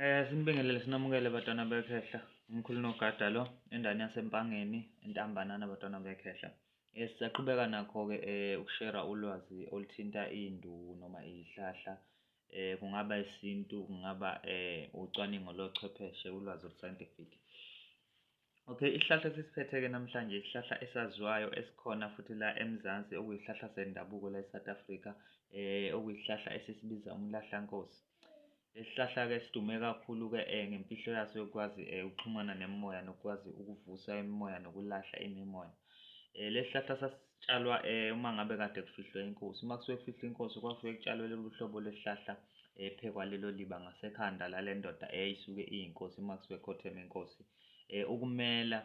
Eh sinibingelele sinamukele batwana bekhehla umkhulu nogada lo endani yasempangeni entambanana batwana bekhehla. Eh sisaqhubeka nakho ke eh ukushera ulwazi oluthinta indu noma izihlahla eh kungaba isintu kungaba eh ucwaningo lochwepheshe ulwazi oluScientific. Okay, isihlahla esisiphethe-ke namhlanje isihlahla esaziwayo esikhona futhi la eMzansi okuyisihlahla sendabuko la eSouth Africa eh okuyisihlahla esisibiza umlahlankosi. Lesihlahla-ke sidume kakhulu-ke eh ngemfihlo yaso yokwazi eh ukuxhumana nemimoya nokwazi ukuvusa imimoya nokulahla imimoya. Eh lesihlahla sasitshalwa eh uma ngabe kade kufihlwe inkosi. Uma kusuke kufihlwe inkosi kwasuke kutshalwe lolu hlobo lwesihlahla ephekwa eh, lelo liba ngasekhanda lale ndoda eyayisuke iyinkosi uma kusuke khotheme inkosi. eh, ukumela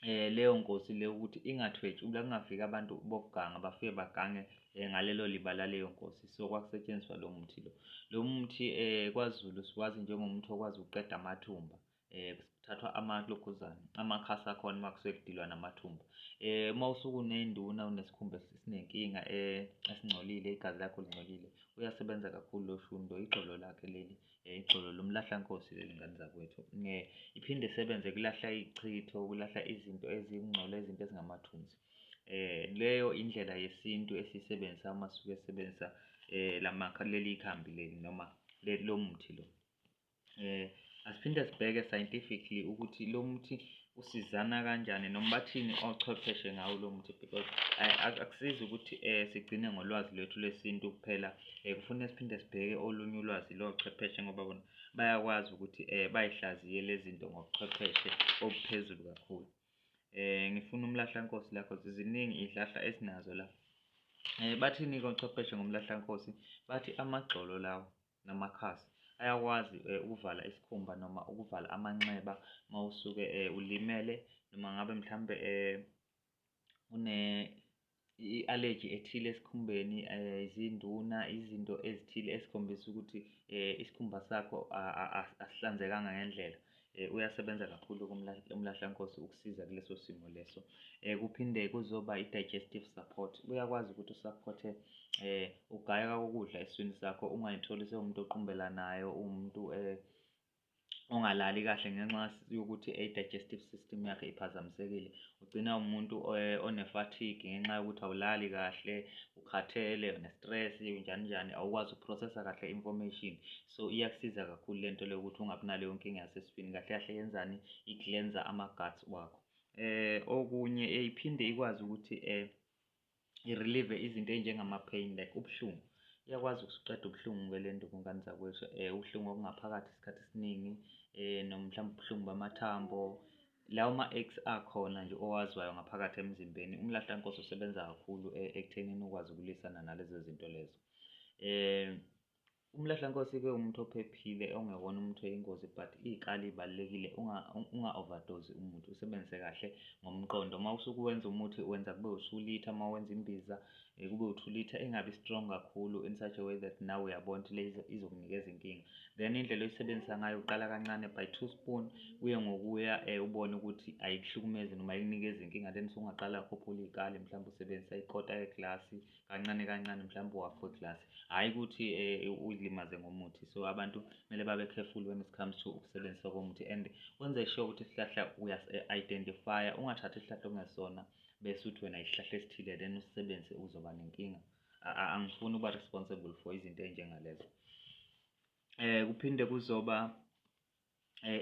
eh leyo nkosi le ukuthi ingathwetshi ula kungafika abantu bokuganga bafike bagange eh, ngalelo liba laleyo nkosi so kwakusetshenziswa lo muthi lo lo muthi eh kwaZulu siwazi njengomuthi okwazi ukuqeda amathumba eh kuthathwa amalokhuzana amakhasi akhona uma kusuke kudilwa namathumba eh uma usuku unenduna unesikhumba esinenkinga eh esingcolile igazi lakho lingcolile uyasebenza kakhulu lo shundo ixolo lakhe leli Ixolo lomlahlankosi leli ngane zakwethu. Nge iphinde isebenze kulahla ichitho, kulahla izinto ezingcwele, izinto ezingamathunzi. Eh leyo indlela yesintu esisebenzisa uma suke sebenzisa eh lamakha leli ikhambi leli noma leli lomuthi lo. Eh asiphinde sibheke scientifically ukuthi lo muthi usizana kanjani noma bathini ochwepheshe ngawo lo muthi because akusizi ukuthi um sigcine ngolwazi lwethu lwesintu kuphela um kufune siphinde sibheke olunye ulwazi lochwepheshe ngoba bona bayakwazi ukuthi um bay'hlaziye lezi zinto ngobuchwepheshe obuphezulu kakhulu um ngifuna umlahlankosi lakho ziziningi iy'hlahla esinazo la um bathini-ke ochwepheshe ngomlahlankosi bathi amagxolo lawo namakhasi ayakwazi eh, ukuvala isikhumba noma ukuvala amanxeba uma usuke eh, ulimele noma ngabe mhlawumbe eh, une i-allergy ethile esikhumbeni izinduna izinto ezithile esikhombisa ukuthi isikhumba sakho asihlanzekanga ngendlela Eh, uyasebenza kakhulu umlahlankosi ukusiza kuleso simo leso eh, kuphinde kuzoba i-digestive support uyakwazi ukuthi usaphothe um eh, ugayeka kokudla eswini sakho ungayitholi sewumuntu oqumbelanayo uwumuntu um ongalali kahle ngenxa yokuthi i-digestive system yakhe iphazamisekile ugcina umuntu one-fatigue ngenxa yokuthi awulali kahle ukhathele une-stress njani njani awukwazi ukuprocessa kahle information so iyakusiza kakhulu lento le ukuthi ungabi naleyo nkinga yasesifini kahle kahle yenzani i-cleanser ama-guts wakho eh okunye eyiphinde eh, ikwazi ukuthi eh i-relieve izinto ey'njengama-pain like ubuhlungu iyakwazi ukusuqeda ubuhlungu-ke le nto bungane zakwethu um eh, ubuhlungu obungaphakathi isikhathi esiningi um noma mhlawumbe ubuhlungu bamathambo lawo ma-ex akhona nje owaziwayo ngaphakathi emzimbeni umlahlankosi usebenza kakhulu e, ekuthenini ukwazi ukulwisana nalezo zinto lezo um Umlahlankosi ke umuntu ophephile ongewona umuntu oyingozi but ikali ibalekile unga unga overdose umuthi usebenzise kahle ngomqondo uma usuku wenza umuthi wenza kube usulitha uma wenza imbiza eh, kube uthulitha ingabi strong kakhulu in such a way that nawe uyabona ukuthi le izokunikeza inkinga then indlela oyisebenzisa ngayo uqala kancane by two spoon kuye ngokuya eh, ubone ukuthi ayikuhlukumezi noma ayikunikeza inkinga then sungaqala ukhuphula ikali mhlawumbe usebenzisa ikota yeglasi kancane kancane mhlawumbe uwafa iglasi hhayi ukuthi um uyilimaze ngomuthi so abantu kumele babe careful when it comes to ukusebenzisa komuthi and wenze sure ukuthi isihlahla uyas-identifya ungathathi isihlahla okungesona bese uthi wena isihlahla esithile then usisebenzise uzoba nenkinga angifuni ukuba responsible for izinto ey'njengalezo um kuphinde kuzoba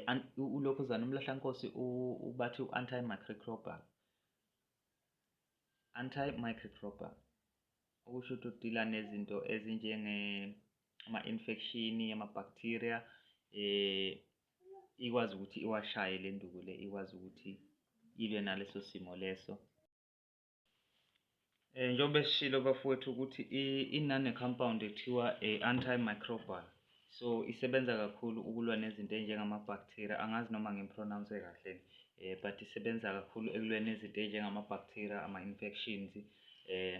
um ulokhuzana umlahlankosi ubathi u-anti-microcrobal Anti-microcrobial, okusho ukuthi udila nezinto ezinjenge ama-infection, ama-bacteria eh ikwazi ukuthi iwashaye le nduku le ikwazi ukuthi ilwe naleso simo leso um njengoba esishilo bafowethu ukuthi inane-compound ekuthiwa i-antimicrobial so isebenza kakhulu ukulwa nezinto enjengamabhaktheriya angazi noma ngimpronawunse kahle eh but isebenza kakhulu ekulweni nezinto enjengamabhaktheriya ama-infections eh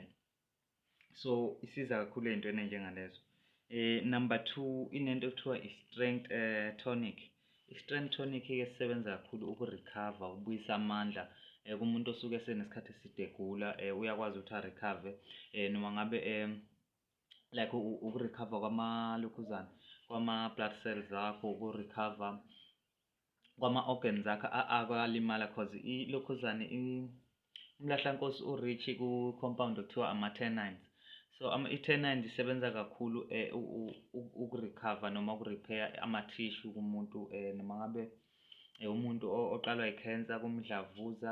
so isiza kakhulu ey'ntweni enjengalezo eh number two inento okuthiwa i-strength eh, tonic i-strength tonic-ke sisebenza kakhulu ukurekhava ukubuyisa amandla eh, kumuntu osuke senesikhathi eside egula eh, uyakwazi ukuthi arekhave eh, noma ngabe um eh, like ukurecover kwamalokhuzana kwama-blood cells akho ukurecover kwama-organs akho akalimala cause ilokhuzane umlahlankosi u-rich ku-compound okuthiwa ama-tenines so i-tenines isebenza kakhulu um eh, ukurecover noma ukurepair ama-tissue kumuntu um noma ngabe eh, umuntu oqalwa i-cancer kumdlavuza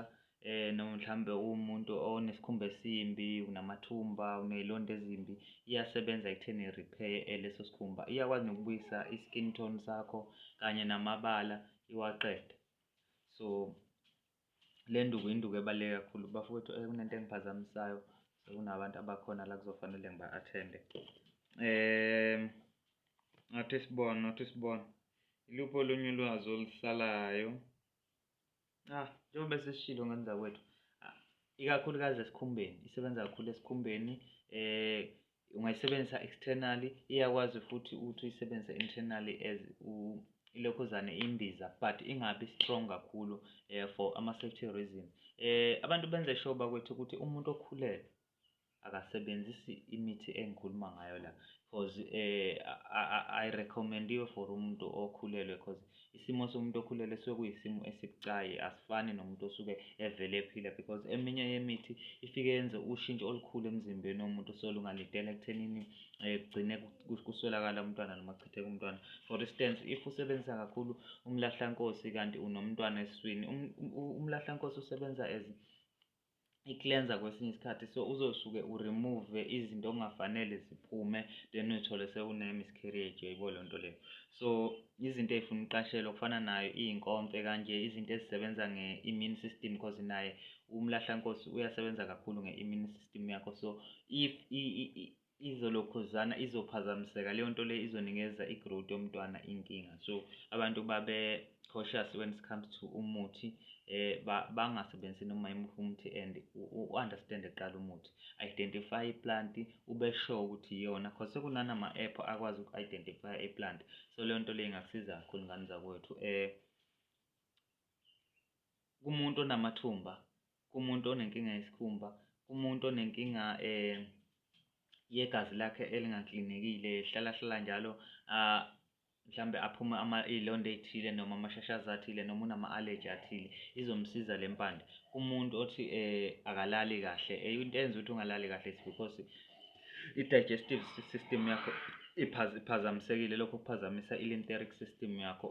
eh noma mhlambe umuntu onesikhumba esimbi unamathumba unezilonda ezimbi iyasebenza ekutheni repair eh, leso sikhumba iyakwazi nokubuyisa i-skin tone sakho kanye namabala iwaqede so le nduku induku ebaluleke kakhulu bafowethu eh, kunento engiphazamisayo sekunabantu abakhona la kuzofanele ngiba-athende um ngathi sibona ngathi sibona iluphi olunye ulwazi olusalayo Ah, njengoba sesishilo ngani zakwethu ah, ikakhulukazi esikhumbeni isebenza kakhulu esikhumbeni eh ungayisebenzisa externally iyakwazi futhi ukuthi uyisebenzise internally as ilokhuzane imbiza but ingabi strong kakhulu eh for ama safety reason eh abantu benze sure bakwethu ukuthi umuntu okhulele akasebenzisi imithi engikhuluma ngayo la cause eh ayirecommendiwe for umuntu okhulelwe cause isimo somuntu okhulelwe suke kuyisimo esibucayi asifani nomuntu osuke evele ephila because eminye yemithi ifike yenze ushintsho olukhulu emzimbeni womuntu solungalidela ekuthenini eh, kugcine kuswelakala umntwana noma kuchitheka umntwana for instance if usebenzisa kakhulu umlahlankosi kanti unomntwana eswini um, um, umlahlankosi usebenza as i-cleanser kwesinye isikhathi so uzosuke uremove izinto okungafanele ziphume then uthole sewune-miscarriage uyayibo loo nto leyo so izinto ey'funa uqashelwa kufana nayo iy'nkomfe kanje izinto ezisebenza nge-immune system cause naye umlahlankosi uyasebenza kakhulu nge-immune system yakho so if izolokhuzana izophazamiseka leyo nto le izonikeza i-growth yomntwana inkinga so abantu babe cautious when it comes to umuthi eh bangasebenzisi noma yimuphi umuthi and u-understand kuqala umuthi identify i-plant ube sure ukuthi iyona cause sekunanama app akwazi uku-identify i-plant so leyo nto le ingakusiza kakhulu ngane zakwethu eh kumuntu onamathumba kumuntu onenkinga yesikhumba kumuntu onenkinga um yegazi lakhe elingaklinekile hlala hlala njalo um mhlawumbe aphume iy'londa ey'thile noma amashashazi athile noma unama-allergy athile izomsiza le mpande kumuntu othi um akalali kahle into enza ukuthi ungalali kahle is because i-digestive system yakho iphazamisekile lokho kuphazamisa i-lymphatic system yakho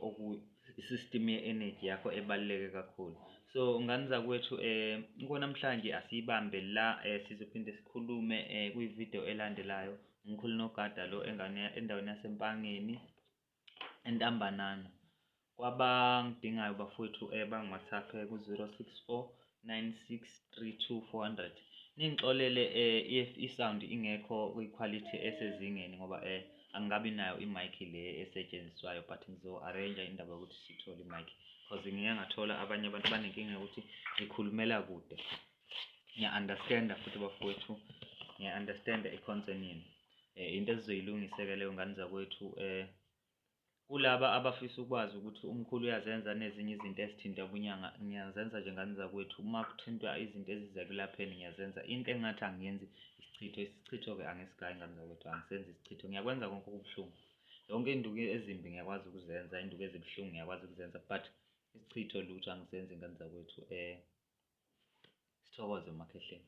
i-system ye-energy yakho ebaluleke kakhulu so nganiza kwethu um konamhlanje asiyibambe la um sizophinde sikhulume um kwividiyo elandelayo umkhulu nogada lo endaweni yasempangeni entambanana kwabangidingayo bafowethu um bangwhatsapp ku-zero six four 9632400 ningixolele eh if i sound ingekho kwi quality esezingeni ngoba eh angikabi nayo i mic le esetshenziswayo but ngizo arrange indaba yokuthi sithole i mic because ngike ngathola abanye abantu banenkinga ukuthi ngikhulumela kude ngiya understand futhi bafowethu ngiya understand i concern yenu eh into esizoyilungiseka leyo ngane zakwethu eh Kulaba abafisa ukwazi ukuthi umkhulu uyazenza nezinye izinto ezithinta ubunyanga, ngiyazenza nje ngani zakwethu. Uma kuthintwa izinto eziza ekulapheni ngiyazenza. Into engathi angiyenzi isichitho, isichitho-ke angisigayi ngani zakwethu, angisenzi isichitho. Ngiyakwenza konke okubuhlungu. Yonke induku ezimbi ngiyakwazi ukuzenza, induku ezibuhlungu ngiyakwazi ukuzenza but isichitho lutho angisenzi ngani zakwethu. Sithokoze uMakhehleni.